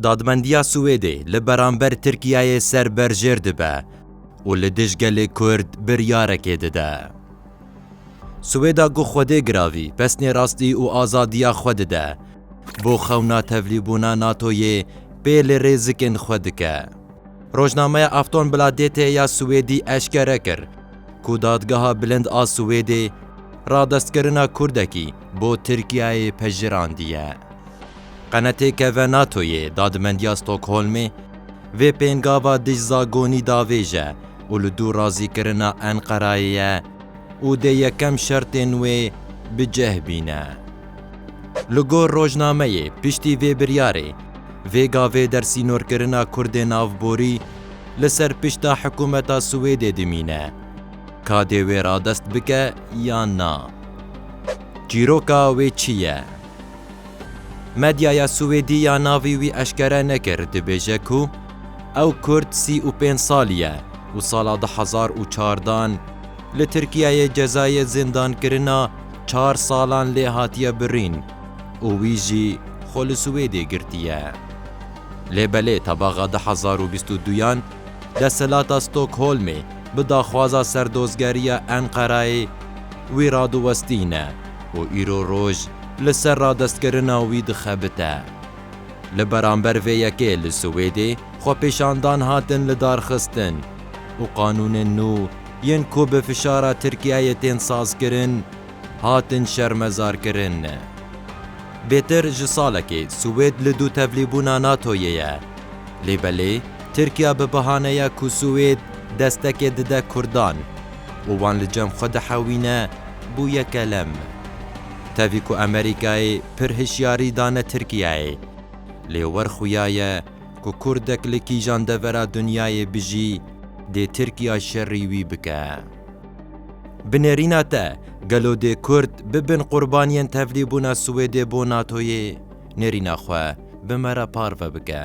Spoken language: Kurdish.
Dadmendiya Swêdê li beramber Tirkiyeyê ser berjêr dibe û li dij gelê Kurd biryarekê dide. Swêda ku Xwedê giravî pesnê rastî û azadiya xwe dide, bo xewna tevlîbûna NATO'yê pê li rêzikên xwe dike. Rojnameya Aftonbladet ya Swêdî eşkere kir ku Dadgeha Bilind a Swêdê radestkirina Kurdekî, bo Tirkiyeyê pejirandîye. Qenetê ke ve NATOyê Dadimendiya Stokholmê vê pêngava dijzagonî davêje û li dû razîkirina Enqerayê ye û dê yekem şertên wê bi cih bîne. Li gor rojnameyê piştî vê biryarê vê gavê dersînorkirina Kurdên avborî li ser pişta hikûmeta Swêdê dimîne. Ka dê wê radest bike yan na? Çîroka wê çi ye? Medyaya Swêdî ya navî wî eşkere nekir dibêje ku ew kurd sî û pênc salî ye û sala du hezar û çar dan li Tirkiyeyê cezayê zindankirina çar salan lê hatiye birîn û wî jî xwe li Swêdê girtiye. Lê belê tebaxa du hezar û bîst û duyan Desthilata Stockholmê bi daxwaza serdozgeriya Enqerayê wî radiwestîne û îro roj li ser radestkirina wî dixebite. Li beramber vê yekê li Swêdê xwepêşandan hatin lidarxistin û qanûnên nû yên ku bi fişara Tirkiyeyê tên sazkirin hatin şermezarkirin. Bêtir ji salekê Swêd li du tevlîbûna NATO'yê ye. Lê belê Tirkiya bi bihaneya ku Swêd destekê dide Kurdan û wan li cem xwe dihewîne bû yekelem. Tevî ku Amerîkayê pir hişyarî dane Tirkiyeyê lê wer xuya ye ku Kurdek li kîjan devera dinyayê bijî dê Tirkiya şerî wî bike. Bi nêrîna te, gelo dê Kurd bibin qurbaniyên tevlîbûna Swêdê bo NATO'yê? Nêrîna xwe bi me re parve bike.